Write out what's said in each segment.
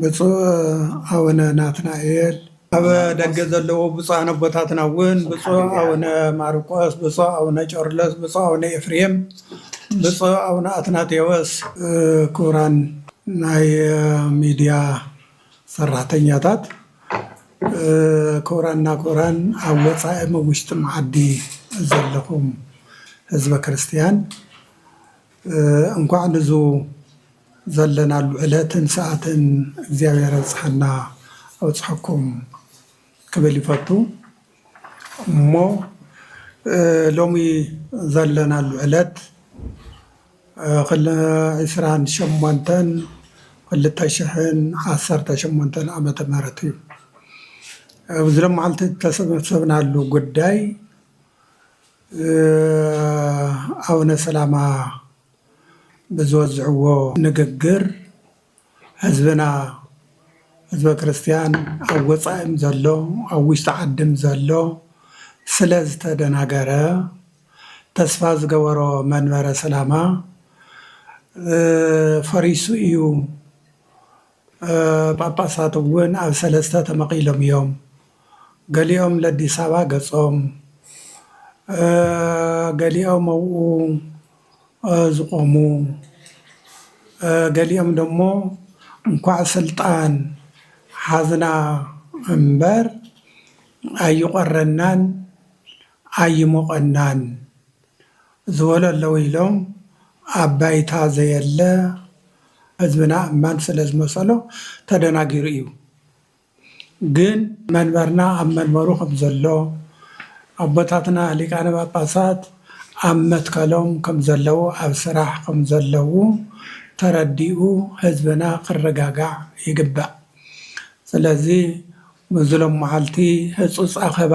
ብፁዕ ኣውነ ናትናኤል፣ ኣብ ደገ ዘለዉ ብፁዓን ኣቦታትና እውን ብፁዕ ኣውነ ማርቆስ፣ ብፁዕ ኣውነ ጨርሎስ፣ ብፁዕ ኣውነ ኤፍሬም፣ ብፁዕ ኣውነ ኣትናቴዎስ፣ ክቡራን ናይ ሚድያ ሰራሕተኛታት፣ ክቡራንና ክቡራን ኣብ ወፃኢም ኣብ ውሽጥም ዓዲ ዘለኹም ህዝበ ክርስትያን እንኳዕ ንዙ ዘለናሉ ዕለትን ሰኣትን እግዚኣብሔር ኣብፀሐና ኣብፀሐኩም ክብል ይፈቱ እሞ ሎሚ ዘለናሉ ዕለት ዕስራን ሸሞንተን ክልተ ሽሕን ዓሰርተ ሸሞንተን ዓመተ ምህረት እዩ ኣብዚ ሎማዓንቲ ዝተሰበሰብናሉ ጉዳይ ኣውነ ሰላማ ብዝወዝዕዎ ንግግር ህዝብና ህዝበ ክርስትያን ኣብ ወፃኢም ዘሎ ኣብ ውሽጢ ዓድም ዘሎ ስለ ዝተደናገረ ተስፋ ዝገበሮ መንበረ ሰላማ ፈሪሱ እዩ ጳጳሳት እውን ኣብ ሰለስተ ተመቒሎም እዮም፣ ገሊኦም ለዲሳባ ገጾም፣ ገሊኦም ኣብኡ ዝቖሙ፣ ገሊኦም ደሞ እንኳዕ ስልጣን ሓዝና እምበር ኣይቖረናን ኣይሞቐናን። ዝበሉ ኣለዉ ኢሎም ኣብ ባይታ ዘየለ ህዝብና እማን ስለ ዝመሰሎ ተደናጊሩ እዩ ግን መንበርና ኣብ መንበሩ ከም ዘሎ ኣቦታትና ሊቃነ ጳጳሳት ኣብ መትከሎም ከም ዘለዉ ኣብ ስራሕ ከም ዘለዉ ተረዲኡ ህዝብና ክረጋጋዕ ይግባእ ስለዚ ምስዚ ሎምዓልቲ ህጹጽ ኣኸባ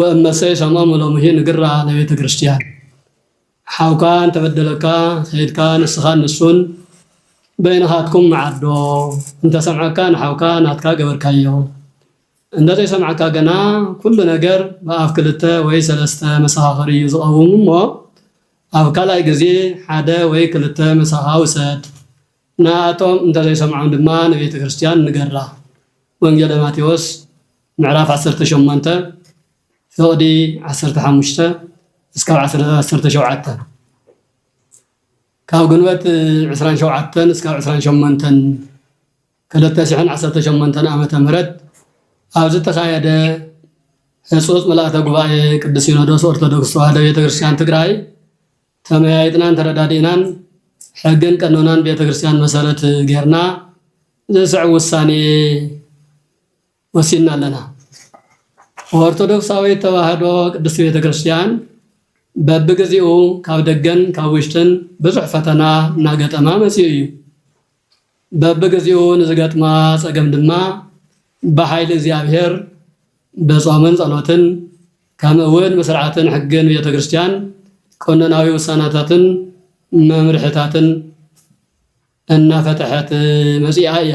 ወእመሰ ሰሞሙ ሎምሂ ንግራ ለቤተ ክርስቲያን፣ ሓውካ እንተበደለካ ከይድካ ንስኻን ንሱን በይንኻትኩም መዓዶ፣ እንተሰምዐካ ንሓውካ ናትካ ገበርካዮ፣ እንደዘይሰምዐካ ግና ኩሉ ነገር ብኣፍ ክልተ ወይ ሰለስተ መሰኻኽር እዩ ዝቐውም እሞ ኣብ ካልኣይ ግዜ ሓደ ወይ ክልተ ምሳኻ ውሰድ፣ ንኣቶም እንተዘይሰምዖም ድማ ንቤተ ክርስቲያን ንገራ ወንጌለ ማቴዎስ። ምዕራፍ ዓሰርተ ሸሞንተ ፍቕዲ ዓሰርተ ሓሙሽተ እስካብ ዓሰርተ ሸውዓተ ካብ ግንቦት ዕስራን ሸውዓተን እስካብ ዕስራን ሸሞንተን ክልተ ሽሕን ዓሰርተ ሸሞንተን ዓመተ ምህረት ኣብ ዝተኻየደ ህፁፅ ምልኣተ ጉባኤ ቅዱስ ሲኖዶስ ኦርቶዶክስ ተዋህዶ ቤተክርስትያን ትግራይ ተመያይጥናን ተረዳዲእናን ሕግን ቀኖናን ቤተክርስትያን መሰረት ጌርና ዝስዕብ ውሳኔ ወሲድና ኣለና። ኦርቶዶክሳዊት ተዋህዶ ቅድስት ቤተ ክርስቲያን በብግዜኡ ካብ ደገን ካብ ውሽጥን ብዙሕ ፈተና እናገጠማ መፂኡ እዩ። በብግዜኡ ንዝገጥማ ፀገም ድማ ብሓይሊ እግዚኣብሔር ብጾምን ጸሎትን ከምኡ እውን ብስርዓትን ሕግን ቤተ ክርስቲያን ቀኖናዊ ውሳናታትን መምርሕታትን እናፈተሐት መፂኣ እያ።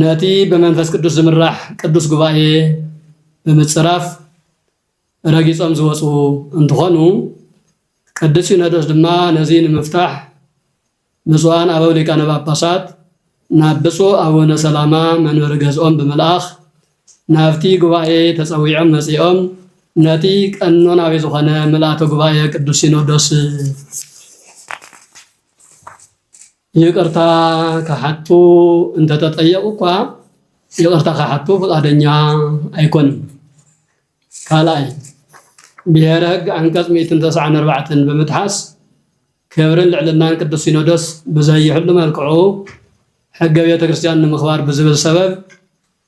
ነቲ ብመንፈስ ቅዱስ ዝምራሕ ቅዱስ ጉባኤ ብምጽራፍ ረጊጾም ዝወጹ እንትኾኑ ቅዱስ ሲኖዶስ ድማ ነዚ ንምፍታሕ ብፁዓን ኣበው ሊቃነ ጳጳሳት ናብ ብፁዕ ኣቡነ ሰላማ መንበሪ ገዝኦም ብምልኣኽ ናብቲ ጉባኤ ተጸዊዖም መጺኦም ነቲ ቀኖናዊ ዝኾነ ምልኣተ ጉባኤ ቅዱስ ሲኖዶስ ይቅርታ ክሓቱ እንተተጠየቁ እኳ ይቅርታ ክሓቱ ፍቃደኛ ኣይኮኑን። ካልኣይ ብሄረ ህግ ዓንቀፅ ሚእትን ተስዓን ኣርባዕተን ብምጥሓስ ክብርን ልዕልናን ቅዱስ ሲኖዶስ ብዘይሕሉ መልክዑ ሕገ ቤተ ክርስቲያን ንምኽባር ብዝብል ሰበብ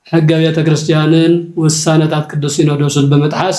ሕገ ቤተ ክርስቲያንን ውሳነታት ቅዱስ ሲኖዶስን ብምጥሓስ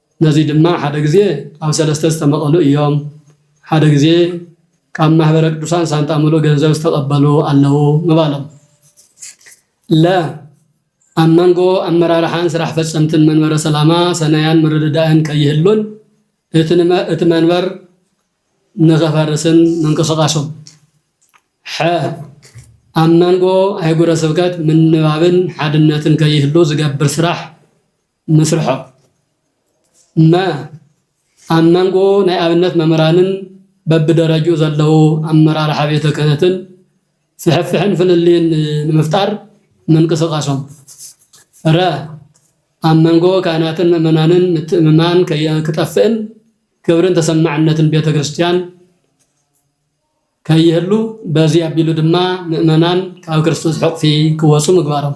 ነዙይ ድማ ሓደ ግዜ ኣብ ሰለስተ ዝተመቐሉ እዮም። ሓደ ግዜ ካብ ማኅበረ ቅዱሳን ሳንጣ ምሉእ ገንዘብ ዝተቐበሉ ኣለዉ ምባሎም። ለ ኣብ መንጎ ኣመራርሓን ስራሕ ፈፀምትን መንበረ ሰላማ ሰናያን ምርድዳእን ከይህሉን እቲ መንበር ንኸፈርስን ምንቅስቓሶም። ሐ ኣብ መንጎ ኣህጉረ ስብከት ምንባብን ሓድነትን ከይህሉ ዝገብር ስራሕ። ምስርሖ መ ኣብ መንጎ ናይ ኣብነት መምህራንን በብደረጅኡ ዘለዉ ኣመራርሓ ቤተ ክህነትን ፍሕፍሕን ፍልልይን ንምፍጣር ምንቅስቃሶም ረ ኣብ መንጎ ካህናትን ምእመናንን ምትእምማን ክጠፍእን ክብርን ተሰማዕነትን ቤተ ክርስቲያን ከይህሉ በዚ ኣቢሉ ድማ ምእመናን ካብ ክርስቶስ ሕቑፊ ክወፁ ምግባሮም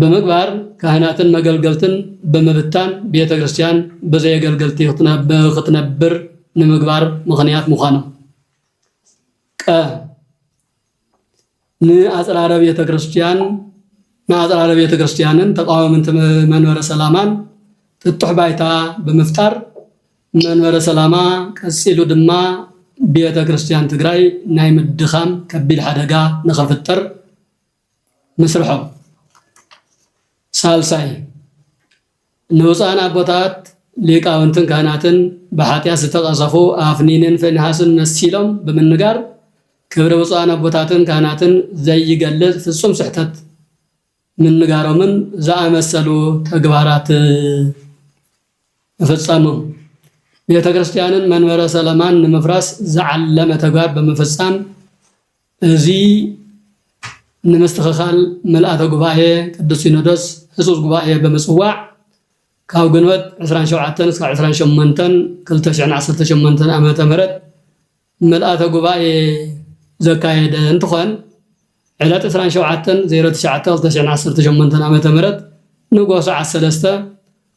ብምግባር ካህናትን መገልገልትን ብምብታን ቤተ ክርስቲያን ብዘየገልገልቲ ኽትነብር ንምግባር ምኽንያት ምዃኖም። ቀ ንኣጽራረ ቤተ ክርስቲያን ንኣጽራረ ቤተ ክርስቲያንን ተቃዋምንቲ መንበረ ሰላማን ጥጡሕ ባይታ ብምፍጣር መንበረ ሰላማ ቀጺሉ ድማ ቤተ ክርስቲያን ትግራይ ናይ ምድኻም ከቢድ ሓደጋ ንኽፍጠር ምስርሖም ሳልሳይ ንውፃን ኣቦታት ሊቃውንትን ካህናትን ብሓጢኣት ዝተቐሰፉ ኣፍኒንን ፌንሃስን መሲሎም ብምንጋር ክብሪ ብፁዓን ኣቦታትን ካህናትን ዘይገልጽ ፍጹም ስሕተት ምንጋሮምን ዝኣመሰሉ ተግባራት ምፍጸሞም ቤተ ክርስቲያንን መንበረ ሰለማን ንምፍራስ ዝዓለመ ተግባር ብምፍጻም እዚ ንምስትኽኻል ምልኣተ ጉባኤ ቅዱስ ሲኖዶስ ህፁፅ ጉባኤ ብምፅዋዕ ካብ ግንቦት ዕስራን ሸውዓተን እስካብ ዕስራን ሸሞንተን ክልተ ሽሕን ዓሰርተ ሸሞንተን ዓመተ ምህረት ምልኣተ ጉባኤ ዘካየደ እንትኾን ዕለት ዕስራን ሸውዓተን ዜሮ ትሽዓተ ክልተ ሽሕን ዓሰርተ ሸሞንተን ዓመተ ምህረት ንጎሆ ሰዓት ሰለስተ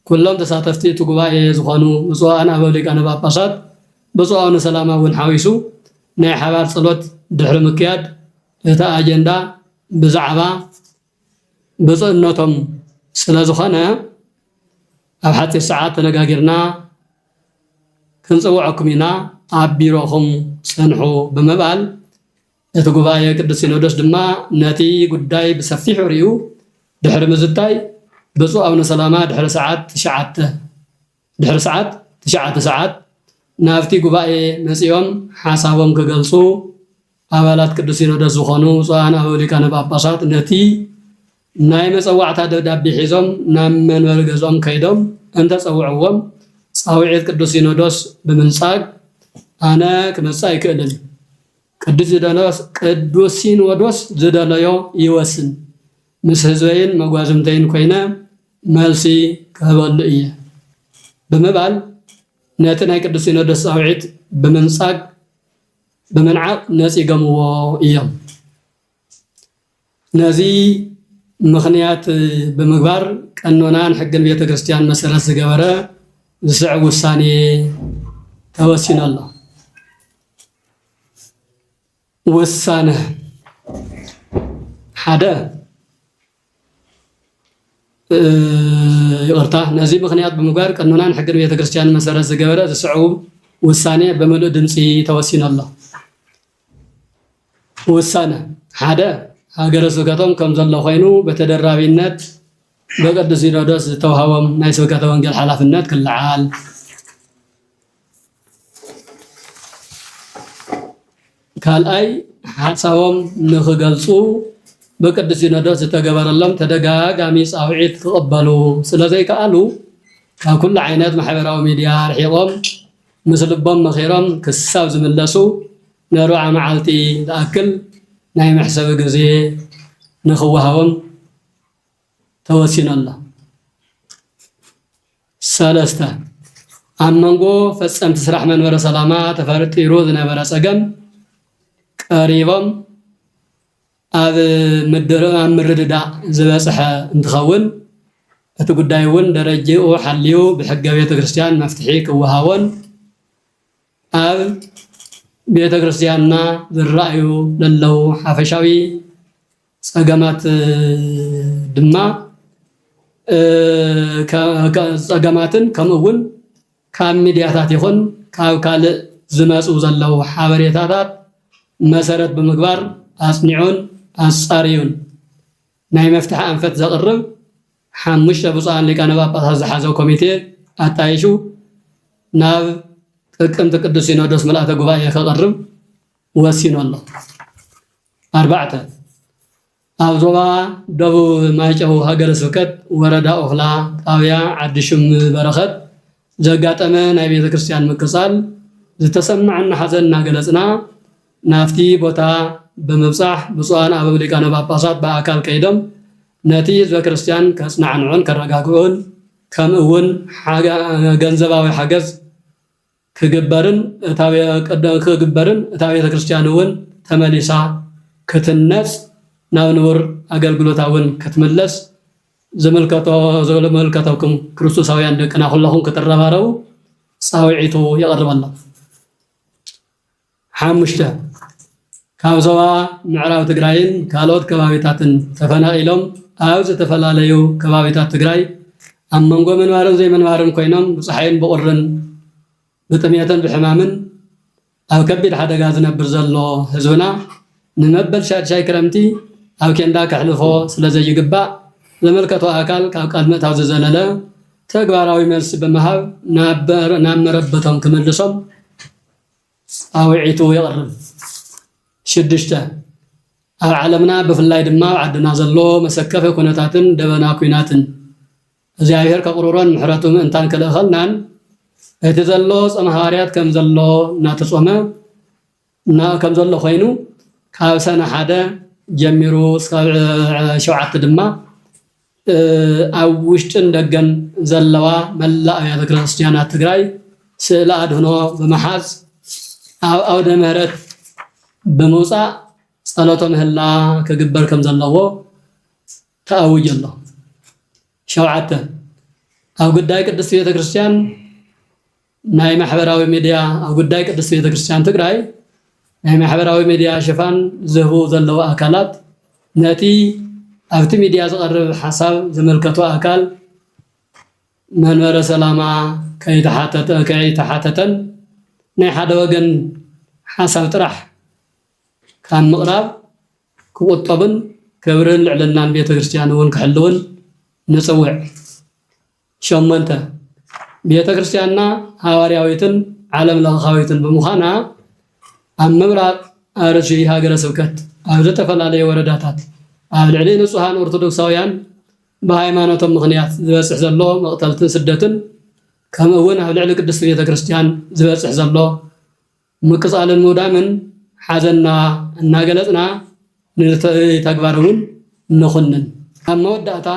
ኩሎም ተሳተፍቲ እቲ ጉባኤ ዝኾኑ ብፁዓን ኣበው ሊቃነ ጳጳሳት ብፁዕ ኣውነ ሰላማ እውን ሓዊሱ ናይ ሓባር ጸሎት ድሕሪ ምክያድ እቲ ኣጀንዳ ብዛዕባ ብፁዕነቶም ስለዝኾነ ኣብ ሓጺር ሰዓት ተነጋጊርና ክንጽውዐኩም ኢና ኣብ ቢሮኹም ጽንሑ ብምባል እቲ ጉባኤ ቅዱስ ሲኖዶስ ድማ ነቲ ጉዳይ ብሰፊሑ ሪኡ ድሕሪ ምዝታይ ብፁዕ ኣቡነ ሰላማ ድሕሪ ሰዓት ትሽዓተ ድሕሪ ሰዓት ትሽዓተ ሰዓት ናብቲ ጉባኤ መጺኦም ሓሳቦም ክገልጹ ኣባላት ቅዱስ ሲኖዶስ ዝኾኑ ብፁዓን ኣበው ሊቃነ ጳጳሳት ነቲ ናይ መጸዋዕታ ደብዳቤ ሒዞም ናብ መንበሪ ገዝኦም ከይዶም እንተጸውዕዎም ጻውዒት ቅዱስ ሲኖዶስ ብምንጻግ ኣነ ክመጽእ ኣይክእልን ቅዱስ ሲኖዶስ ዝደለዮ ይወስን፣ ምስ ህዝበይን መጓዝምተይን ኮይነ መልሲ ክህበሉ እየ ብምባል ነቲ ናይ ቅዱስ ሲኖዶስ ጻውዒት ብምንጻግ ብምንዓቕ ነጺገምዎ እዮም። ነዚ ምኽንያት ብምግባር ቀኖናን ሕግን ቤተ ክርስቲያን መሰረት ዝገበረ ዝስዕብ ውሳኔ ተወሲኑ ኣሎ። ውሳነ ሓደ ይቕርታ፣ ነዚ ምኽንያት ብምግባር ቀኖናን ሕግን ቤተ ክርስቲያን መሰረት ዝገበረ ዝስዕቡ ውሳኔ ብምሉእ ድምፂ ተወሲኑ ኣሎ። ውሳነ ሓደ ሃገረ ስብከቶም ከም ዘሎ ኮይኑ በተደራቢነት በቅዱስ ሲኖዶስ ዝተውሃቦም ናይ ስብከተ ወንጌል ሓላፍነት ክለዓል ካልኣይ ሓሳቦም ንክገልፁ ብቅዱስ ሲኖዶስ ዝተገበረሎም ተደጋጋሚ ፃውዒት ክቕበሉ ስለዘይከኣሉ ካብ ኩሉ ዓይነት ማሕበራዊ ሚድያ ኣርሒቖም ምስ ልቦም መኺሮም ክሳብ ዝምለሱ ንኣርብዓ መዓልቲ ዝኣክል ናይ መሕሰቢ ግዜ ንኽወሃቦም ተወሲኑ ኣሎ። ሰለስተ፣ ኣብ መንጎ ፈፀምቲ ስራሕ መንበረ ሰላማ ተፈርጢሩ ዝነበረ ፀገም ቀሪቦም ኣብ ምርድዳእ ዝበፅሐ እንትኸውን እቲ ጉዳይ እውን ደረጅኡ ሓልዩ ብሕገ ቤተ ክርስቲያን መፍትሒ ክወሃቦን ኣብ ቤተ ክርስቲያንና ዝረኣዩ ዘለዉ ሓፈሻዊ ፀገማት ድማ ፀገማትን ከምኡ እውን ካብ ሚድያታት ይኹን ካብ ካልእ ዝመፁ ዘለዉ ሓበሬታታት መሰረት ብምግባር ኣፅኒዑን ኣፃርዩን ናይ መፍትሒ ኣንፈት ዘቕርብ ሓሙሽተ ብፁዓን ሊቃነ ጳጳሳት ዝሓዘ ኮሚቴ ኣጣይሹ ናብ ጥቅምቲ ቅዱስ ሲኖዶስ ምልኣተ ጉባኤ ከቕርብ ወሲኑ ኣሎ። ኣርባዕተ ኣብ ዞባ ደቡብ ማይጨው ሃገረ ስብከት ወረዳ ኦኽላ ጣብያ ዓዲ ሽም በረኸት ዘጋጠመ ናይ ቤተ ክርስቲያን ምቅጻል ዝተሰማዐና ሓዘን እናገለጽና ናብቲ ቦታ ብምብጻሕ ብፁዓን ኣበው ሊቃነ ጳጳሳት ብኣካል ከይዶም ነቲ ህዝበ ክርስቲያን ከጽናዕንዑን ከረጋግዑን ከምእውን ገንዘባዊ ሓገዝ ክግበርን እታ ቤተ ክርስቲያን እውን ተመሊሳ ክትህነጽ ናብ ንቡር ኣገልግሎታ እውን ክትምለስ ዝምልከተኩም ክርስቶሳውያን ደቅና ኩለኹም ክትረባረቡ ጻውዒቱ የቕርበሎም። ሓሙሽተ፣ ካብ ዞባ ምዕራብ ትግራይን ካልኦት ከባቢታትን ተፈናቒሎም ኣብ ዝተፈላለዩ ከባቢታት ትግራይ ኣብ መንጎ ምንባርን ዘይምንባርን ኮይኖም ብፀሓይን ብቑርን ብጥምየትን ብሕማምን ኣብ ከቢድ ሓደጋ ዝነብር ዘሎ ህዝብና ንመበል ሻድሻይ ክረምቲ ኣብ ኬንዳ ከሕልፎ ስለዘይግባእ ዝምልከቶ ኣካል ካብ ቃል ምእታው ዝዘለለ ተግባራዊ መልሲ ብምሃብ ናብ መረበቶም ክምልሶም ጻውዒቱ የቕርብ። ሽዱሽተ፣ ኣብ ዓለምና ብፍላይ ድማ ኣብ ዓድና ዘሎ መሰከፊ ኩነታትን ደበና ኩናትን እግዚኣብሔር ከቕርሮን ምሕረቱ ምእንታን ክልእኸልናን እቲ ዘሎ ጾመ ሃዋርያት ከም ዘሎ እናተጾመ ከም ዘሎ ኮይኑ ካብ ሰነ ሓደ ጀሚሩ እስካብ ሸውዓተ ድማ ኣብ ውሽጥን ደገን ዘለዋ መላእ ኣብያተ ክርስቲያናት ትግራይ ስእለ ኣድህኖ ብምሓዝ ኣብ ኣውደ ምህረት ብምውፃእ ፀሎተ ምህላ ክግበር ከም ዘለዎ ተኣዊጁ ኣሎ። ሸውዓተ ኣብ ጉዳይ ቅድስቲ ቤተ ክርስቲያን ናይ ማሕበራዊ ሚድያ ኣብ ጉዳይ ቅድስት ቤተክርስትያን ትግራይ ናይ ማሕበራዊ ሚድያ ሽፋን ዝህቡ ዘለዉ ኣካላት ነቲ ኣብቲ ሚድያ ዝቐርብ ሓሳብ ዝምልከቶ ኣካል መንበረ ሰላማ ከይተሓተተን ናይ ሓደ ወገን ሓሳብ ጥራሕ ካብ ምቕራብ ክቑጠቡን ክብርን ልዕልናን ቤተክርስትያን እውን ክሕልዉን ንፅውዕ። ሸሞንተ፣ ቤተ ክርስቲያንና ሓዋርያዊትን ዓለም ለኻዊትን ብምዃና ኣብ ምብራቕ ኣርሲ ሃገረ ስብከት ኣብ ዝተፈላለየ ወረዳታት ኣብ ልዕሊ ንፁሃን ኦርቶዶክሳውያን ብሃይማኖቶም ምኽንያት ዝበፅሕ ዘሎ መቕተልትን ስደትን ከምኡ እውን ኣብ ልዕሊ ቅድስቲ ቤተ ክርስቲያን ዝበፅሕ ዘሎ ምቅጻልን ምውዳምን ሓዘንና እናገለጽና ነቲ ተግባር እውን ንኹንን። ኣብ መወዳእታ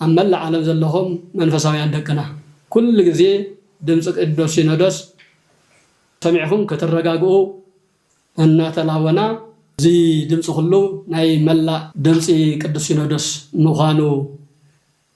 ኣብ መላእ ዓለም ዘለኹም መንፈሳውያን ደቅና ኩሉ ግዜ ድምጺ ቅዱስ ሲኖዶስ ሰሚዕኩም ክትረጋግኡ እናተላበና፣ እዚ ድምጺ ኩሉ ናይ መላእ ድምጺ ቅዱስ ሲኖዶስ ምዃኑ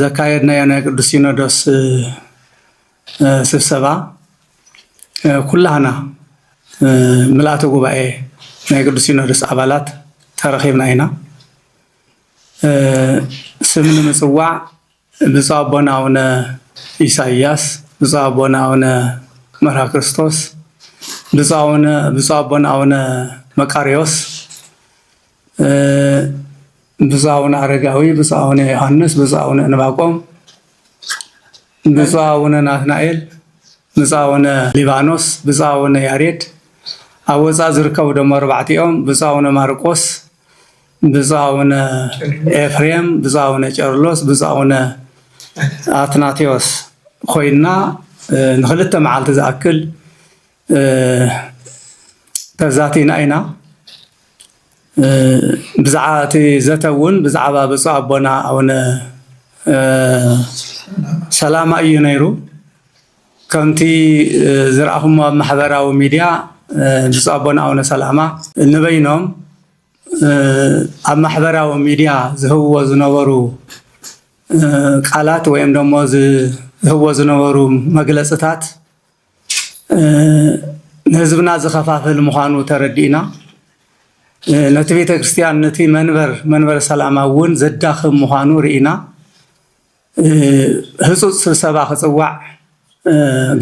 ዘካየድናዮ ናይ ቅዱስ ሲኖዶስ ስብሰባ ኩላህና ምልኣተ ጉባኤ ናይ ቅዱስ ሲኖዶስ ኣባላት ተረኺብና ኢና። ስም ንምፅዋዕ ብፁዕ ኣቦና ኣቡነ ኢሳያስ፣ ብፁዕ ኣቦና ኣቡነ መርሃ ክርስቶስ፣ ብፁዕ ኣቦና ኣቡነ መቃርዮስ ብፁዕ ኣቡነ ኣረጋዊ፣ ብፁዕ ኣቡነ ዮሐንስ፣ ብፁዕ ኣቡነ እንባቆም፣ ብፁዕ ኣቡነ ናትናኤል፣ ብፁዕ ኣቡነ ሊባኖስ፣ ብፁዕ ኣቡነ ያሬድ ኣብ ወፃእ ዝርከቡ ደሞ ኣርባዕቲኦም፣ ብፁዕ ኣቡነ ማርቆስ፣ ብፁዕ ኣቡነ ኤፍሬም፣ ብፁዕ ኣቡነ ጨርሎስ፣ ብፁዕ ኣቡነ ኣትናቴዎስ ኮይና ንክልተ መዓልቲ ዝኣክል ተዛቲና ኢና ብዛዕባ እቲ ዘተ እውን ብዛዕባ ብፁዕ ኣቦና ኣቡነ ሰላማ እዩ ነይሩ ከምቲ ዝረኣኹሞ ኣብ ማሕበራዊ ሚድያ ብፁዕ ኣቦና ኣቡነ ሰላማ ንበይኖም ኣብ ማሕበራዊ ሚድያ ዝህብዎ ዝነበሩ ቃላት ወይም ደሞ ዝህብዎ ዝነበሩ መግለፅታት ንህዝብና ዝኸፋፍል ምዃኑ ተረዲእና ነቲ ቤተክርስትያን ነቲ መንበር መንበረ ሰላማ እውን ዘዳኽም ምዃኑ ርኢና ህፁፅ ስብሰባ ክፅዋዕ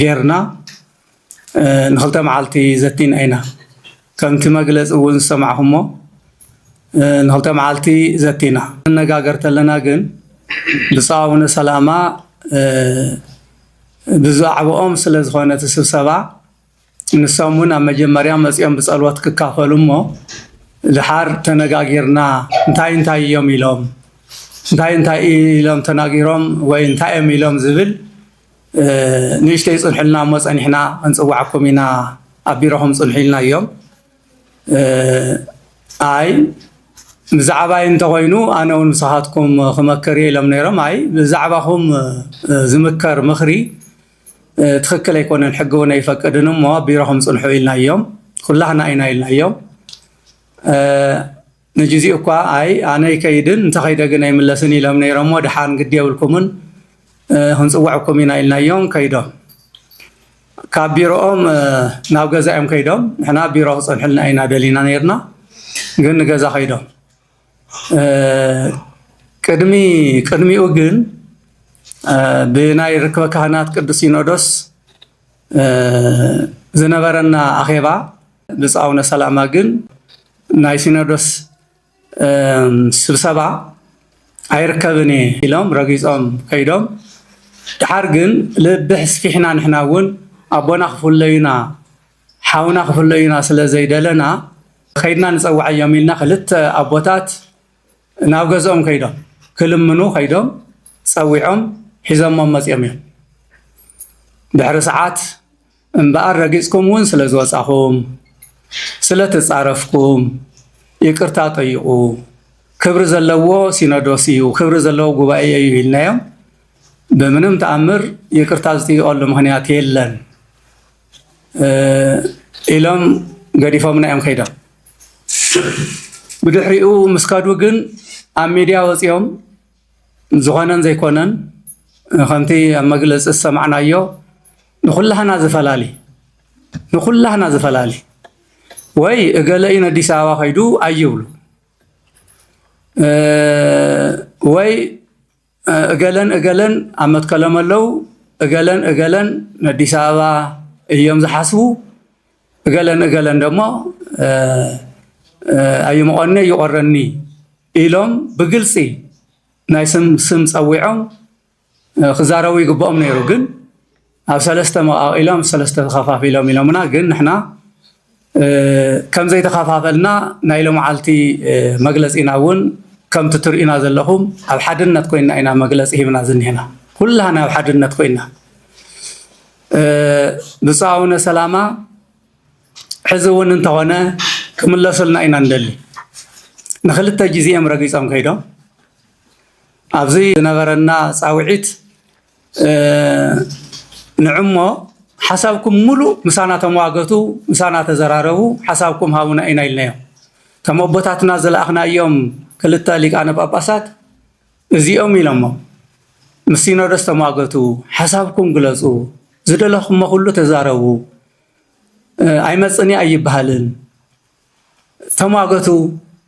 ጌርና ንክልተ መዓልቲ ዘቲና ኢና። ከምቲ መግለጺ እውን ዝሰማዕኹሞ ንክልተ መዓልቲ ዘቲና ንነጋገር ተለና ግን ብፁዕ ኣቡነ ሰላማ ብዛዕብኦም ስለ ዝኾነ እቲ ስብሰባ ንሶም እውን ኣብ መጀመርያ መፂኦም ብፀልወት ክካፈሉ እሞ ድሓር ተነጋጊርና እንታይ እንታይ እዮም ኢሎም እንታይ እንታይ ኢሎም ተናጊሮም ወይ እንታይ እዮም ኢሎም ዝብል ንእሽተይ ፅንሑልና እሞ ፀኒሕና ክንፅዋዓኩም ኢና ኣብ ቢሮኹም ፅንሑ ኢልናዮም ኣይ ብዛዕባይ እንተኾይኑ ኣነ እውን ንስኻትኩም ክመክር እየ ኢሎም ነይሮም ኣይ ብዛዕባኹም ዝምከር ምኽሪ ትኽክል ኣይኮነን ሕጊ እውን ኣይፈቅድን እሞ ቢሮኹም ፅንሑ ኢልናዮም ኩላህና ኢና ኢልናዮም ንግዚኡ እኳ ኣይ ኣነ ይከይድን እንተ ከይደ ግን ኣይምለስን ኢሎም ነይሮሞ ደሓን ግዲ የብልኩምን ክንፅውዐኩም ኢና ኢልናዮም ከይዶም ካብ ቢሮኦም ናብ ገዛ እዮም ከይዶም ንሕና ቢሮ ክፀንሑልና ኢና ደሊና ነይርና ግን ንገዛ ከይዶም ቅድሚ ቅድሚኡ ግን ብናይ ርክበ ካህናት ቅዱስ ሲኖዶስ ዝነበረና ኣኼባ ብፁዕ ኣቡነ ሰላማ ግን ናይ ሲኖዶስ ስብሰባ ኣይርከብን እየ ኢሎም ረጊፆም ከይዶም ድሓር ግን ልቢ ሕስፊሕና ንሕና እውን ኣቦና ክፍለዩና ሓውና ክፍለዩና ስለ ዘይደለና ከይድና ንፀዋዓዮም ኢልና ክልተ ኣቦታት ናብ ገዝኦም ከይዶም ክልምኑ ከይዶም ፀዊዖም ሒዘሞም መፂኦም እዮም ድሕሪ ሰዓት እምበኣር ረጊጽኩም እውን ስለ ዝወጻኹም፣ ስለ ተጻረፍኩም ይቅርታ ጠይቁ፣ ክብሪ ዘለዎ ሲኖዶስ እዩ፣ ክብሪ ዘለዎ ጉባኤ እዩ ኢልናዮም ብምንም ተኣምር ይቅርታ ዝጥይቀሉ ምክንያት የለን ኢሎም ገዲፎምና እዮም ከይዶም። ብድሕሪኡ ምስ ከዱ ግን ኣብ ሚድያ ወፂኦም ዝኾነን ዘይኮነን ከምቲ ኣብ መግለፂ ዝሰማዕናዮ ንኩላህና ዝፈላሊ ንኩላህና ዝፈላሊ ወይ እገለ እዩ ነዲስ ኣበባ ከይዱ ኣይብሉ ወይ እገለን እገለን ኣብ መትከሎም ኣለው እገለን እገለን ነዲስ ኣበባ እዮም ዝሓስቡ እገለን እገለን ደሞ ኣይምቆኒ ይቆረኒ ኢሎም ብግልፂ ናይ ስም ስም ፀዊዖም ክዛረቡ ይግብኦም ነይሩ ግን ኣብ ሰለስተ መቃቂሎም ሰለስተ ተኸፋፊሎም ኢሎምና ግን ንሕና ከምዘይተኸፋፈልና ናይ ሎምዓልቲ መግለፂና እውን ከምቲ ትርእዩና ዘለኹም ኣብ ሓድነት ኮይና ኢና መግለፂ ሂብና ዝኒሀና ኩላህና ኣብ ሓድነት ኮይና ብፁዕ ኣቡነ ሰላማ ሕዚ እውን እንተኾነ ክምለሱልና ኢና ንደሊ ንክልተ ግዜ እዮም ረጊፆም ከይዶም ኣብዚ ዝነበረና ፃውዒት ንዕሞ ሓሳብኩም ሙሉእ ምሳና ተመዋገቱ ምሳና ተዘራረቡ ሓሳብኩም ሃቡና ኢና ኢልናዮም እቶም ኣቦታትና ዝለኣኽናዮም ክልተ ሊቃነ ጳጳሳት እዚኦም ኢሎሞ ምስ ሲኖዶስ ተሟገቱ፣ ሓሳብኩም ግለጹ፣ ዝደለኹሞ ኩሉ ተዛረቡ፣ ኣይመጽእን እየ ኣይበሃልን፣ ተሟገቱ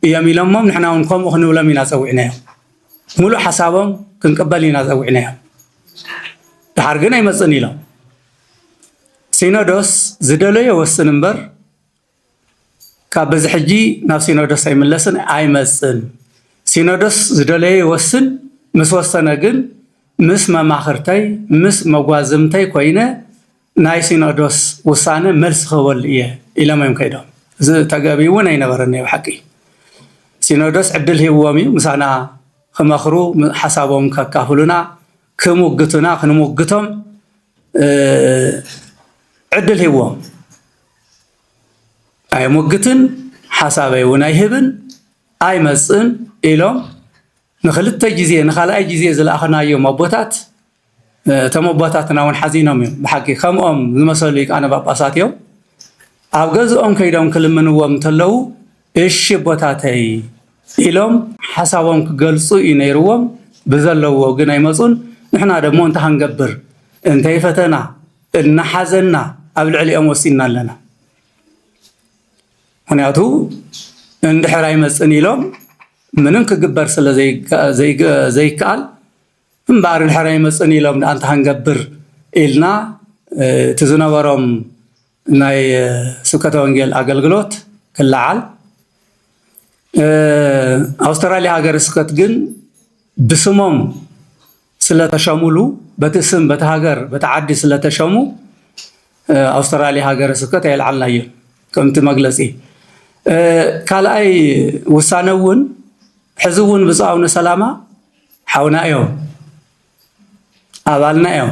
እዮም ኢሎሞም፣ ንሕና ውን ከምኡ ክንብሎም ኢና ጸዊዕናዮም። ሙሉእ ሓሳቦም ክንቅበል ኢና ጸዊዕናዮም። ድሓር ግን ኣይመጽእን ኢሎም። ሲኖዶስ ዝደለዮ ይወስን እምበር ካብ በዚ ሕጂ ናብ ሲኖዶስ ኣይምለስን ኣይመጽን ሲኖዶስ ዝደለዮ ይወስን ምስ ወሰነ ግን ምስ መማኽርተይ ምስ መጓዝምተይ ኮይነ ናይ ሲኖዶስ ውሳነ መልሲ ክህበሉ እየ ኢሎም እዮም ከይዶም እዚ ተገቢ እውን ኣይነበረን ናይ ብሓቂ ሲኖዶስ ዕድል ሂብዎም እዩ ምሳና ክመኽሩ ሓሳቦም ከካፍሉና ክሙግቱና ክንሙግቶም ዕድል ሂዎም ኣይሙግትን ሓሳበይ እውን ኣይህብን ኣይመፅን ኢሎም ንክልተ ግዜ ንካልኣይ ግዜ ዝለኣኽናዮም ኣቦታት እቶም ኣቦታትና እውን ሓዚኖም እዮም ብሓቂ ከምኦም ዝመሰሉ ቃነ ጳጳሳት እዮም ኣብ ገዝኦም ከይዶም ክልምንዎም እንተለዉ እሺ ኣቦታተይ ኢሎም ሓሳቦም ክገልፁ እዩ ነይርዎም ብዘለዎ ግን ኣይመፁን ንሕና ደሞ እንታይ ክንገብር እንተይ ፈተና እናሓዘና ኣብ ልዕሊኦም ወሲንና ኣለና ምክንያቱ እንድሕር ኣይመፅን ኢሎም ምንም ክግበር ስለ ዘይከኣል እምበኣር ድሕር ኣይመፅእን ኢሎም ደኣ እንተሃንገብር ኢልና እቲ ዝነበሮም ናይ ስብከተ ወንጌል ኣገልግሎት ክለዓል ኣውስትራልያ ሃገረ ስብከት ግን ብስሞም ስለተሸሙሉ በቲ ስም በቲ ሃገር በቲ ዓዲ ስለተሸሙ ኣውስትራልያ ሃገረ ስብከት ኣየልዓልናዮ ከምቲ መግለፂ ካልኣይ ውሳነ እውን ሕዚ እውን ብፁዕ ኣቡነ ሰላማ ሓውና እዮም ኣባልና እዮም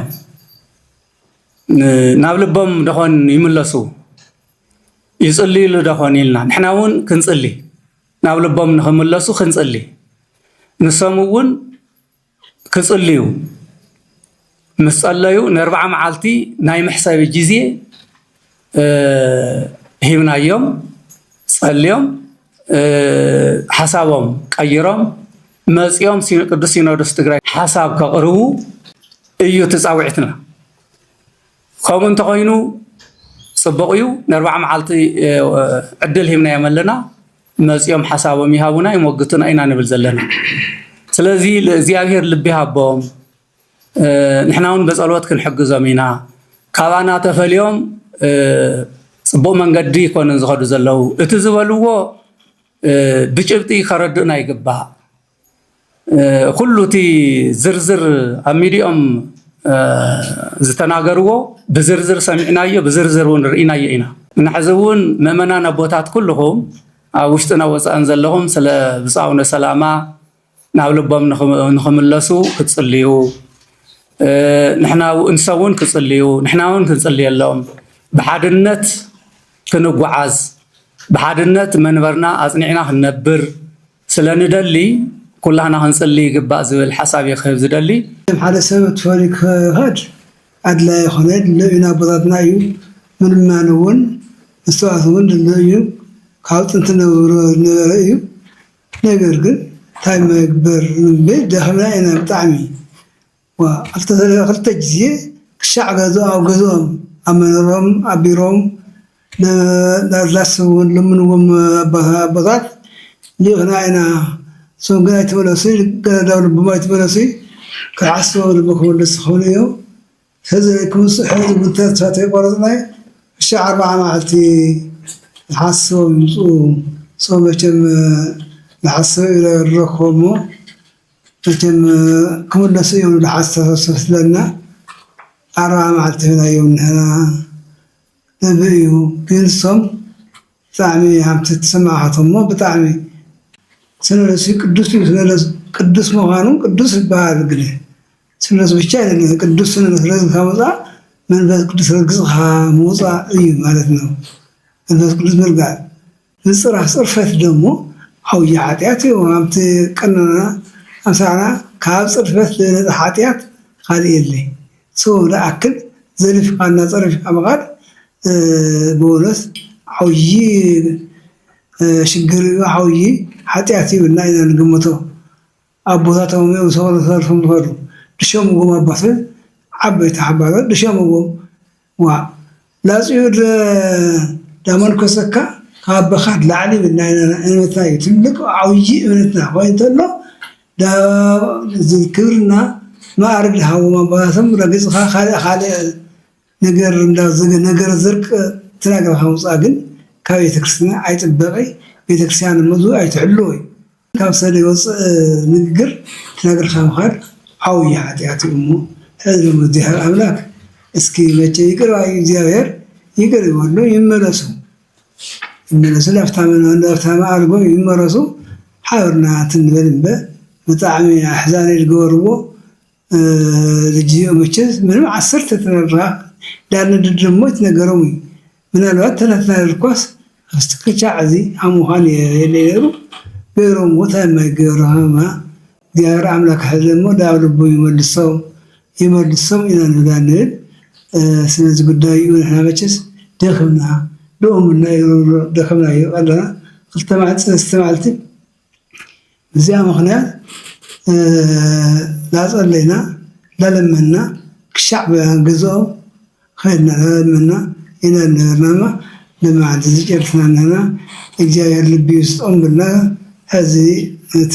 ናብ ልቦም ደኾን ይምለሱ ይፅልዩሉ ደኾን ኢልና ንሕና እውን ክንፅሊ ናብ ልቦም ንክምለሱ ክንፅሊ ንሶም እውን ክፅልዩ ምስ ጸለዩ ንኣርብዓ መዓልቲ ናይ መሕሰቢ ግዜ ሂብናዮም ጸልዮም ሓሳቦም ቀይሮም መጺኦም ቅዱስ ሲኖዶስ ትግራይ ሓሳብ ከቕርቡ እዩ እቲ ጻውዒትና። ከምኡ እንተኾይኑ ጽቡቕ እዩ። ንኣርብዓ መዓልቲ ዕድል ሂብናዮም ኣለና። መጺኦም ሓሳቦም ይሃቡና ይሞግቱና ኢና ንብል ዘለና። ስለዚ እግዚኣብሔር ልቢ ይሃቦም። ንሕና እውን ብጸሎት ክንሕግዞም ኢና። ካባና ተፈልዮም ጽቡቕ መንገዲ ይኮንን ዝኸዱ ዘለዉ እቲ ዝበልዎ ብጭብጢ ከረድኡና ይግባእ ኩሉ እቲ ዝርዝር ኣብ ሚዲኦም ዝተናገርዎ ብዝርዝር ሰሚዕናዮ ብዝርዝር እውን ርኢናዮ ኢና እና ሕዚ እውን ምእመናን ኣቦታት ኩልኹም ኣብ ውሽጥና ወፃእን ዘለኹም ስለ ብፃውነ ሰላማ ናብ ልቦም ንኽምለሱ ክጽልዩ ንሰብ እውን ክጽልዩ ንሕና እውን ክንጽልየሎም ብሓድነት ክንጓዓዝ ብሓድነት መንበርና ኣጽኒዕና ክንነብር ስለንደሊ ኩላህና ክንጽሊ ይግባእ ዝብል ሓሳብ እየ ክህብ ዝደሊ። መቸም ሓደ ሰብ ትፈርዩ ክኸድ ኣድላይ ኣይኮነ ድሎ እዩ ንኣቦታትና እዩ ምልማን እውን ምስትውዓል እውን ድሎ እዩ ካብ ጥንቲ ነብሮ ዝነበረ እዩ። ነገር ግን ታይ ምግበር ንብል ደክምና ኢና ብጣዕሚ ዋእ ክልተ ሰለስተ ክልተ ግዜ ክሻዕ ገዝኦ ኣብ ገዝኦም ኣብ መንሮኦም ኣብ ቢሮኦም ዳርላስ ውን ለምንዎም ኣቦታት ሊኢክና ኢና እሶም ግን ኣይተመለሱይ ገለ ዳው ልቦም ኣይተመለሱይ ክሓስቦም ልቢ ክምልሱ ክብሉ እዮም ህዝቢ ክብፅሑ ዝብል ተስፋ ተይቆረፅናይ ዕሻ ኣርባዓ መዓልቲ ንሓስቦም ይምፅኡ ሶም መቸም ንሓስብ ኢለ ንረክቦም እሞ መቸም ክምለሱ እዮም ዝብል ሓተሳሰብ ስለና ኣርባዓ መዓልቲ ሂብናዮም ንሕና ዝብል እዩ ግን ሶም ብጣዕሚ ሃምቲ ትስምዓካቶ እሞ ብጣዕሚ ስነነሱ ቅዱስ እዩ ስነነሱ ቅዱስ ምኳኑ ቅዱስ ይበሃል ግደ ስምረቱ ብቻ ኣይደለን ቅዱስ ስምረት ረግዝካ ምውፃእ መንፈስ ቅዱስ ረግፅካ ምውፃእ እዩ ማለት ነው መንፈስ ቅዱስ ምርጋፅ ምፅራፍ ፅርፈት ደሞ ዓብዩ ሓጢኣት እዩ ኣብቲ ቀኖና ኣምሳዕና ካብ ፅርፈት ዝበለፀ ሓጢኣት ኻሊእ የለይ ሰው ደኣክል ዘሊፍካ እና ፀሪፍካ ምኻድ ብወሎስ ዓብዪ ሽግር እዩ ዓብዪ ሓጢኣት እዩ ኢልና ኢና ንግምቶ። ኣቦታቶም እዮም ሰቅሉ ተሰልፎም ዝከዱ ድሸምዎም ኣቦተ ዓበይቲ ሓባሮት ድሸምዎም ዋእ ላፅዩ እድረ ዳመንኮሰካ ካብ ኣቦካ ድላዕሊ ይብልና ኢና እምነትና እዩ ትልቅ ዓውዪ እምነትና ኮይኑ ተሎ ዳብ ክብርና ማኣርግ ድሃቦም ኣቦታቶም ረግፅካ ካልእ ካልእ ነገር እንዳ ዝግ ነገር ዝርቅ ትናገር ካብ ውጻእ ግን ካብ ቤተ ክርስትና ኣይጥበቂ ቤተ ክርስያን መዙ ኣይትሕልዎ እዩ ካብ ሰደይ ወጽእ ንግግር ትናገር ካብ ምኻድ ዓውይ ሓጢኣት እዩ እሞ ሕዝቢ መዚሃር ኣምላክ እስኪ መቸ ይቅር ባይ እግዚኣብሔር ይቅር ይበሉ ይመለሱ ይመለሱ ላፍታመ ላፍታመ ኣልጎ ይመረሱ ሓብርና ትንበል እምበ ብጣዕሚ ኣሕዛኒ ዝገበርዎ ልጅዮ መቸስ ምንም ዓሰርተ ተረራቕ ዳርንድር ደሞ ይትነገሮም እዩ ምናልባት ተለፍላል እኳስ ምስቲ ክቻዕ እዚ ሃሙኻ ነይረ የለ ነይሩ ገይሮም ሞት ኣይማይገይሮ ሃማ እግዚኣብሔር ኣምላክ ሕዚ ደሞ ዳብ ልቡ ይመልሶም ይመልሶም ኢና ንብላ ንብል ስለዚ ጉዳይ እዩ ንሕና መቸስ ደኽምና ደኦምና ደኽምና እዩ ኣለና ክልተ መዓልቲ ሰለስተ መዓልቲ ብዚኣ ምኽንያት ላጸለይና ላለመንና ክሻዕ ገዝኦም ኸድና ላለመንና ኢና ዝነበርና እሞ ሎሚ መዓልቲ እዚ ጨሪስና ኣለና እግዚኣብሔር ልቢ ይስጦም በልና ሕዚ እቲ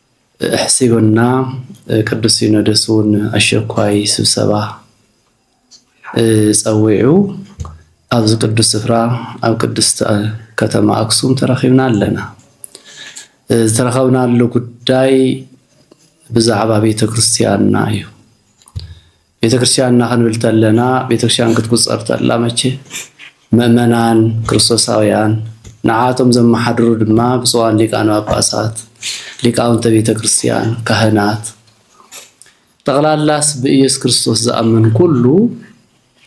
ኣሕሲቡና ቅዱስ ሲኖዶስ እውን ኣሸኳይ ስብሰባ ጸዊዑ ኣብዚ ቅዱስ ስፍራ ኣብ ቅድስቲ ከተማ ኣክሱም ተረኺብና ኣለና። ዝተረኸብናሉ ጉዳይ ብዛዕባ ቤተ ክርስቲያንና እዩ። ቤተክርስቲያን እና ክንብል ተለና ቤተክርስቲያን ክትቁጸር ተላ መቼ ምእመናን ክርስቶሳውያን ንዓቶም ዘመሓድሩ ድማ ብፁዓን ሊቃነ ጳጳሳት፣ ሊቃውንተ ቤተክርስቲያን፣ ካህናት ጠቕላላስ ብኢየሱስ ክርስቶስ ዝኣምን ኩሉ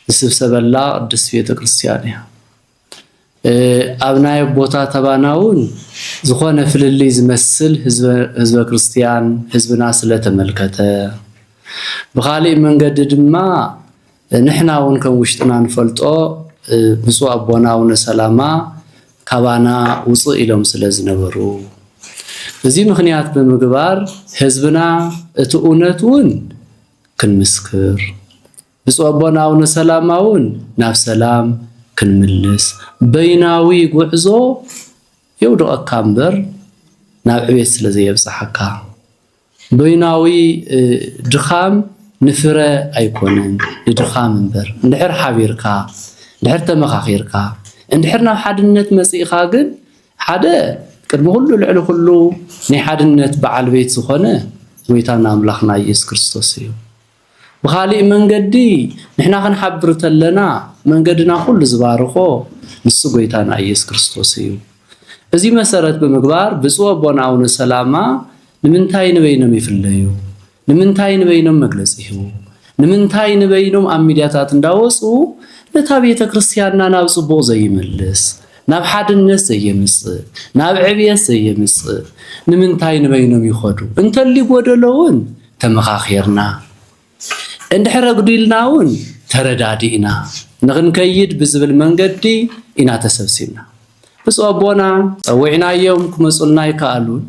ዝስብሰበላ ቅድስት ቤተክርስቲያን እያ። ኣብ ናይ ኣቦታት ኣባና እውን ዝኾነ ፍልልይ ዝመስል ህዝበ ክርስትያን ህዝብና ስለተመልከተ ብኻሊእ መንገዲ ድማ ንሕና እውን ከም ውሽጥና ንፈልጦ ብፁዕ ኣቦና ኣቡነ ሰላማ ካባና ውፅእ ኢሎም ስለዝነበሩ እዚ ምክንያት ብምግባር ህዝብና እቲ እውነት እውን ክንምስክር ብፁዕ ኣቦና ኣቡነ ሰላማ እውን ናብ ሰላም ክንምልስ በይናዊ ጉዕዞ የውድቐካ እምበር ናብ ዕቤት ስለ ዘየብጽሓካ በይናዊ ድኻም ንፍረ ኣይኮነን ንድኻም እምበር እንድሕር ሓቢርካ እንድሕር ተመኻኺርካ እንድሕር ናብ ሓድነት መጺእኻ ግን ሓደ ቅድሚ ኩሉ ልዕሊ ኩሉ ናይ ሓድነት በዓል ቤት ዝኾነ ጎይታና ኣምላኽና ኢየሱስ ክርስቶስ እዩ። ብኻሊእ መንገዲ ንሕና ክንሓብር ተለና መንገድና ኩሉ ዝባርኾ ንሱ ጎይታና ኢየሱስ ክርስቶስ እዩ። እዚ መሰረት ብምግባር ብፁዕ ኣቦና ኣቡነ ሰላማ ንምንታይ ንበይኖም ይፍለዩ? ንምንታይ ንበይኖም መግለጺ ይህቡ? ንምንታይ ንበይኖም ኣብ ሚዲያታት እንዳወጹ ነታ ቤተ ክርስቲያንና ናብ ጽቡቕ ዘይመልስ ናብ ሓድነት ዘየምጽእ ናብ ዕብየት ዘየምጽእ ንምንታይ ንበይኖም ይኸዱ? እንተሊ ጎደሎውን ተመኻኺርና፣ እንድሕር ኣጉዲልና'ውን ተረዳዲእና ንኽንከይድ ብዝብል መንገዲ ኢና ተሰብሲብና። ብፁዕ ኣቦና ጸዊዕናዮም ክመጹልና ኣይከኣሉን።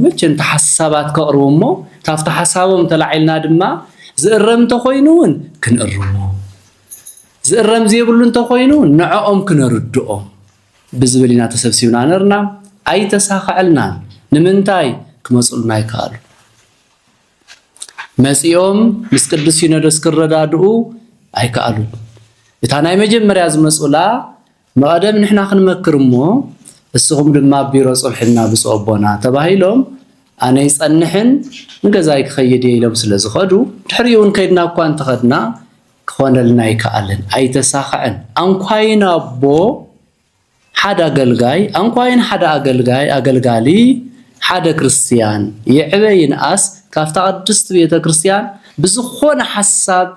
ምእንተ ሓሳባት ከቕርቡ እሞ ካብቲ ሓሳቦም ተላዒልና ድማ ዝእረም እንተኾይኑ'ውን ክንእርሞ፣ ዝእረም ዘይብሉ እንተኾይኑ'ውን ንዕኦም ክነርድኦም ብዝብል ኢና ተሰብሲብና ነርና። ኣይተሳኸዐልናን። ንምንታይ ክመጹልና ኣይከኣሉን። መጺኦም ምስ ቅዱስ ሲኖዶስ ክረዳድኡ ኣይከኣሉን። እታ ናይ መጀመርያ ዝመጹላ መቐደም ንሕና ክንመክር እሞ እስኹም ድማ ኣብ ቢሮ ጽንሑልና ብፁዕ ኣቦና ተባሂሎም ኣነ ይጸንሕን ንገዛይ ክኸይድ እየ ኢሎም ስለ ዝኸዱ ድሕሪኡ እውን ከይድና እኳ እንተኸድና ክኾነልና ኣይከኣልን፣ ኣይተሳኸዐን። ኣንኳይን ኣቦ ሓድ ኣገልጋይ ኣንኳይን ሓደ ኣገልጋይ ኣገልጋሊ ሓደ ክርስትያን ይዕበ ይንኣስ ካብታ ቅድስት ቤተ ክርስትያን ብዝኾነ ሓሳብ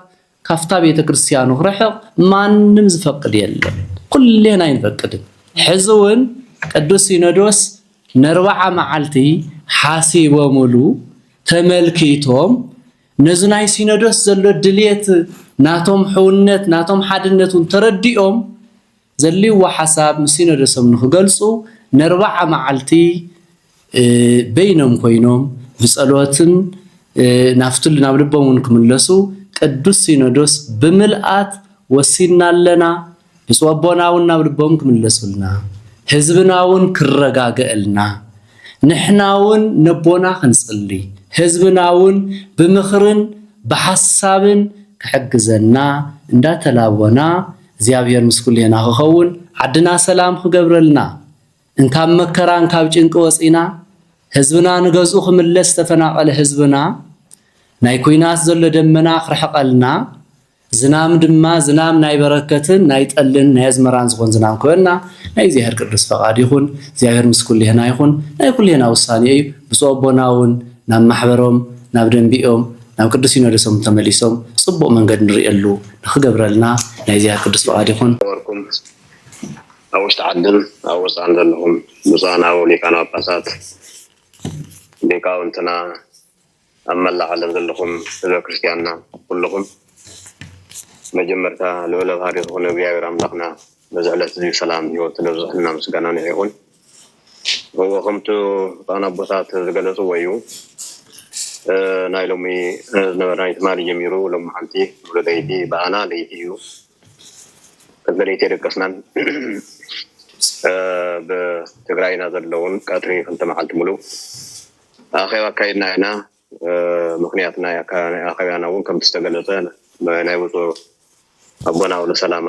ካብታ ቤተ ክርስትያኑ ክርሕቕ ማንም ዝፈቅድ የለን ኩሌና ኣይንፈቅድን ሕዚ ውን ቅዱስ ሲኖዶስ ነርባዓ መዓልቲ ሓሲቦምሉ ተመልኪቶም ነዚ ናይ ሲኖዶስ ዘሎ ድልየት ናቶም ሕውነት ናቶም ሓድነት ውን ተረዲኦም ዘልዎ ሓሳብ ምስ ሲኖዶሶም ንክገልጹ ነርብዓ መዓልቲ በይኖም ኮይኖም ብጸሎትን ናፍቱ ናብ ልቦም ውን ክምለሱ ቅዱስ ሲኖዶስ ብምልኣት ወሲንና ኣለና ብጹእ ኣቦና ውን ናብ ልቦም ክምለሱልና ህዝብና ውን ክረጋገእልና ንሕና ውን ነቦና ክንጽሊ ህዝብና ውን ብምኽርን ብሓሳብን ክሕግዘና እንዳተላቦና እግዚኣብሔር ምስ ኩሌና ክኸውን ዓድና ሰላም ክገብረልና እንካብ መከራ እንካብ ጭንቂ ወፂና ህዝብና ንገዝኡ ክምለስ ዝተፈናቀለ ህዝብና ናይ ኩናት ዘሎ ደመና ክርሕቀልና ዝናም ድማ ዝናም ናይ በረከትን ናይ ጠልን ናይ ኣዝመራን ዝኾን ዝናም ክበና ናይ እግዚኣብሔር ቅዱስ ፈቃድ ይኹን እግዚኣብሔር ምስ ኩሌና ይኹን ናይ ኩሌና ውሳኔ እዩ ብፁዕ ኣቦና እውን ናብ ማሕበሮም ናብ ደንቢኦም ናብ ቅዱስ ሲኖዶሶም ተመሊሶም ጽቡቅ መንገድ ንርእየሉ ንክገብረልና ናይ እግዚኣቢሔር ቅዱስ ፍቃድ ይኩን። ዝነበርኩም ኣብ ውሽጢ ዓድን ኣብ ወፃእን ዘለኹም ብፁዓን ኣበው ሊቃነ ጳጳሳት ሊቃውንትና ኣብ መላእ ዓለም ዘለኹም ህዝበ ክርስቲያንና ኩልኹም መጀመርታ ልዑለ ባህሪ ዝኾነ እግዚኣብሔር ኣምላኽና ነዚ ዕለት እዚ ሰላም ህይወት ነብዝሕና ምስጋና ንዕ ይኹን። እዎ ከምቲ ብፁዓን ኣቦታት ዝገለፅዎ እዩ ናይ ሎሚ ዝነበረ ናይ ትማሊ ጀሚሩ ሎሚ ሓንቲ ሙሉ ለይቲ ብኣና ለይቲ እዩ ቅድሚ ለይቲ የደቀስናን ብትግራይና ዘለውን ቀትሪ ክልተ መዓልቲ ሙሉ ኣኼባ ኣካይድና ኢና ምክንያት ናይ ኣኼባና እውን ከምቲ ዝተገለፀ ናይ ብፁዕ ኣቦና ውሉ ሰላማ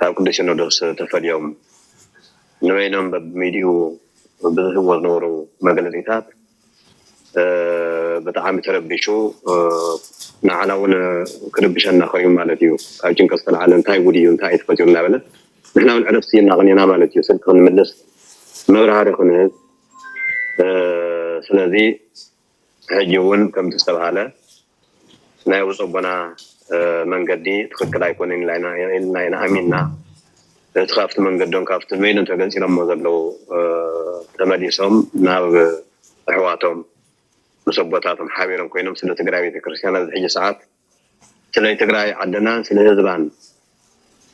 ካብ ቅዱስ ሲኖዶስ ተፈልዮም ንበይኖም በብሚድኡ ብዝህብዎ ዝነበሩ መግለጺታት ብጣዕሚ ተረቢሹ ንዓና እውን ክርብሸና ኮይኑ ማለት እዩ ካብ ጭንቀት ዝተልዓለ እንታይ ጉድ እዩ እንታይ እዩ ተፈጢሩ እናበለ ንሕና እውን ዕረፍቲ እናቐኒና ማለት እዩ ስልኪ ክንምልስ መብራህሪ ክንህብ ስለዚ ሕጂ እውን ከምቲ ዝተብሃለ ናይ ውፀቦና መንገዲ ትክክል ኣይኮነን ኢልና ኢና ኣሚንና እቲ ካብቲ መንገዶም ካብቲ መይሎም ተገንፂሎሞ ዘለዉ ተመሊሶም ናብ ኣሕዋቶም ምስ ኣቦታቶም ሓቢሮም ኮይኖም ስለ ትግራይ ቤተክርስትያን ኣብዚ ሕጂ ሰዓት ስለ ትግራይ ዓድናን ስለ ህዝባን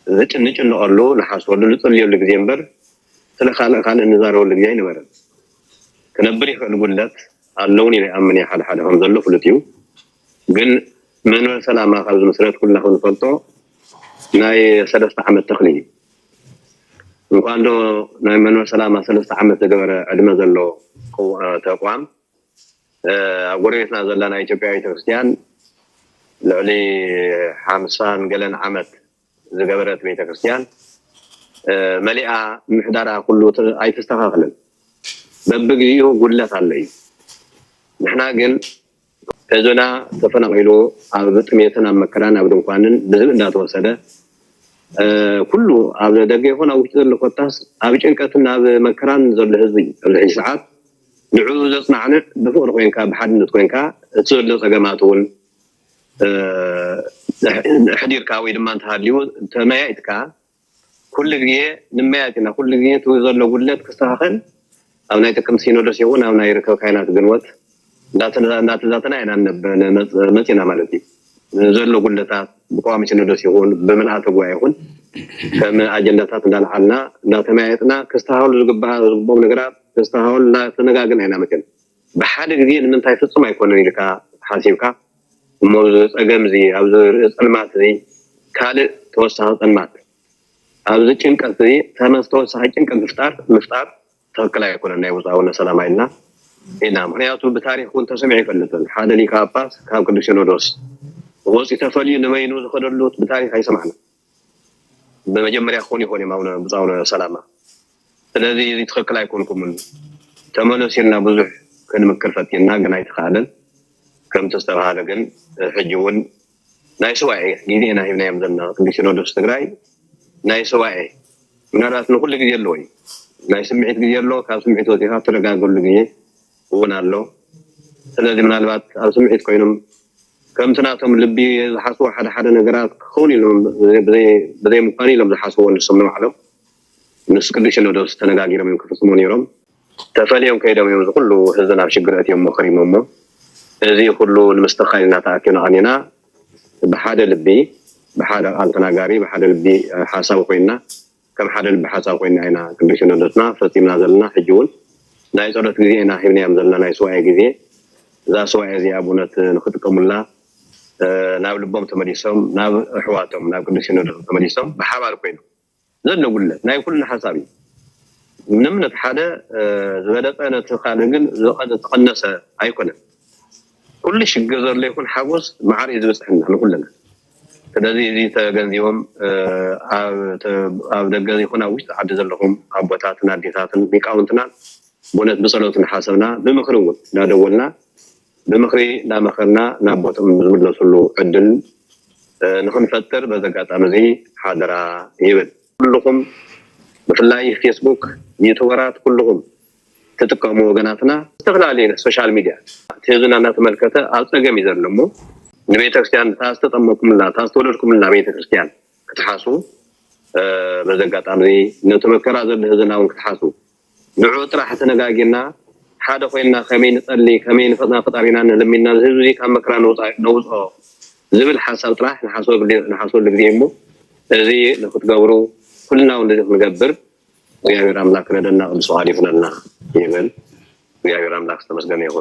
ዝጭንጭንቐሉ፣ ንሓስበሉ፣ ንጽልየሉ ግዜ እምበር ስለ ካልእ ካልእ ንዛረበሉ ግዜ ኣይነበረን። ክነብር ይኽእል ጉድለት ኣለውን ኢለ ይኣምን እየ፣ ሓደሓደ ከም ዘሎ ፍሉጥ እዩ። ግን መንበረ ሰላማ ካብ ዝምስረት ኩላኹም ንፈልጦ ናይ ሰለስተ ዓመት ተኽሊ እዩ። እንኳን ዶ ናይ መንበረ ሰላማ ሰለስተ ዓመት ዝገበረ ዕድመ ዘሎ ተቋም ኣብ ጎረቤትና ዘላ ናይ ኢትዮጵያ ቤተክርስትያን ልዕሊ ሓምሳን ገለን ዓመት ዝገበረት ቤተክርስትያን መሊኣ ምሕዳራ ኩሉ ኣይተስተኻኽልን በብግዚኡ ጉድለት ኣሎ እዩ ንሕና ግን ህዝብና ተፈናቂሉ ኣብ ጥሜትን ኣብ መከራን ኣብ ድንኳንን ብዝብ እንዳተወሰደ ኩሉ ኣብ ደገ ይኹን ኣብ ውሽጢ ዘሎ ኮታስ ኣብ ጭንቀትን ኣብ መከራን ዘሎ ህዝቢ ኣብዚ ሕጂ ሰዓት ንዕኡ ዘጽናዕንዕ ብፍቕሪ ኮይንካ ብሓድነት ኮይንካ እቲ ዘሎ ጸገማት እውን ኣሕዲርካ ወይ ድማ እንተሃልዩ ተመያይጥካ ኩሉ ግዜ ንመያየጥ ኢና ኩሉ ግዜ እቲ ዘሎ ጉድለት ክስተኻኸል ኣብ ናይ ጥቅምቲ ሲኖዶስ ይኹን ኣብ ናይ ርከብ ካይናት ግንወት እንዳተዛተና ኢና መጺና ማለት እዩ ዘሎ ጉድለታት ብቀዋሚ ሲኖዶስ ይኹን ብምልኣተ ጉባኤ ይኹን ከም ኣጀንዳታት እንዳልዓልና እንዳተመያየጥና ክስተኻኸሉ ዝግብኦም ነገራት ደስታ ሃውል እንዳ ተነጋገና ኢና መቸም ብሓደ ግዜ ንምንታይ ፍጹም ኣይኮነን ኢልካ ሓሲብካ እሞ ኣብዚ ጸገም እዚ ኣብዚ ርእይ ጸልማት እዚ ካልእ ተወሳኺ ጸልማት ኣብዚ ጭንቀት እዚ ተመስ ተወሳኺ ጭንቀት ምፍጣር ምፍጣር ትክክል ኣይኮነን ናይ ውጻውነ ሰላም ኣይልና ኢና ምክንያቱ ብታሪክ እውን ተሰሚዑ ይፈልጥን ሓደ ሊቃ ጳጳስ ካብ ቅዱስ ሲኖዶስ ወጺ ተፈልዩ ንበይኑ ዝኸደሉ ብታሪክ ኣይሰማዕና ብመጀመርያ ክኾኑ ይኾኑ እዮም ኣቡነ ብፁዕ ኣቡነ ሰላማ ስለዚ እዚ ትኽክል ኣይኮንኩምን ተመለሱ ኢልና ብዙሕ ክንምክር ፈቲንና ግን ኣይተኻእለን ከምቲ ዝተባሃለ ግን ሕጂ እውን ናይ ስዋኤ ግዜ ኢና ሂብናዮም ዘለና ቅዱስ ሲኖዶስ ትግራይ ናይ ስዋኤ ምናልባት ንኩሉ ግዜ ኣለዎ እዩ ናይ ስምዒት ግዜ ኣሎ ካብ ስምዒት ወፂኻ ትረጋገሉ ግዜ እውን ኣሎ ስለዚ ምናልባት ኣብ ስምዒት ኮይኖም ከምቲ ናቶም ልቢ ዝሓስቦ ሓደ ሓደ ነገራት ክኸውን ኢሎም ብዘይ ምዃኑ ኢሎም ዝሓስብዎ ንሶም ንባዕሎም ምስ ቅዱስ ሲኖዶስ ተነጋጊሮም እዮም ክፍጽሙ ነይሮም ተፈልዮም ከይዶም እዮም እዚ ኩሉ ህዝቢ ናብ ሽግር ኣእትዮሞ ኸሪሞሞ እዚ ኩሉ ንምስትኽኻል ኢና ተኣኪብና ቐኒና ብሓደ ልቢ ብሓደ ቃል ተናጋሪ ብሓደ ልቢ ሓሳቢ ኮይና ከም ሓደ ልቢ ሓሳብ ኮይንና ኢና ቅዱስ ሲኖዶስና ፈጺምና ዘለና ሕጂ ውን ናይ ጸሎት ግዜ ኢና ሂብናዮም ዘለና ናይ ሱባኤ ግዜ እዛ ሱባኤ እዚኣ ብእውነት ንክጥቀሙላ ናብ ልቦም ተመሊሶም ናብ ኣሕዋቶም ናብ ቅዱስ ሲኖዶስ ተመሊሶም ብሓባር ኮይኖም ዘሎ ጉድለት ናይ ኩልና ሓሳብ እዩ ምንም ነቲ ሓደ ዝበለፀ ነቲ ካልእ ግን ዝተቐነሰ ኣይኮነን ኩሉ ሽግር ዘሎ ይኹን ሓጎስ መዓር እዩ ዝበፅሐና ንኩልና ስለዚ እዚ ተገንዚቦም ኣብ ደገ ይኹን ኣብ ውሽጢ ዓዲ ዘለኹም ኣቦታትን ኣዴታትን ሊቃውንትና ብእውነት ብጸሎት እናሓሰብና ብምኽሪ እውን እናደወልና ብምኽሪ እናመኸርና ናብ ቦትኦም ዝምለሱሉ ዕድል ንክንፈጥር በዚ ኣጋጣሚ እዚ ሓደራ ይብል። ኩልኹም ብፍላይ ፌስቡክ ዩቱበራት ኩልኹም ትጥቀሙ ወገናትና ዝተፈላለየ ናይ ሶሻል ሚድያ ኣትሒዙና እናተመልከተ ኣብ ፀገም እዩ ዘሎ እሞ ንቤተክርስትያን እታ ዝተጠመኩምላ እታ ዝተወለድኩምላ ቤተክርስትያን ክትሓስቡ በዚ ኣጋጣሚ እዚ ነቲ መከራ ዘሎ ህዝብና እውን ክትሓስቡ ንዑ ጥራሕ ተነጋጊርና ሓደ ኮይና ከመይ ንጸሊ ከመይ ንፈጥና ፈጣሪና ንልሚና እዚ ህዝቢ ካብ መከራ ነውፅኦ ዝብል ሓሳብ ጥራሕ ንሓስበሉ ግዜ እሞ እዚ ንክትገብሩ ኩልና እውን እዚ ክንገብር እግዚኣብሔር ኣምላክ ክረደና ቅዱስ ፍቃዱ ይኩነልና ይበል እግዚኣብሔር ኣምላክ ዝተመስገነ ይኩን።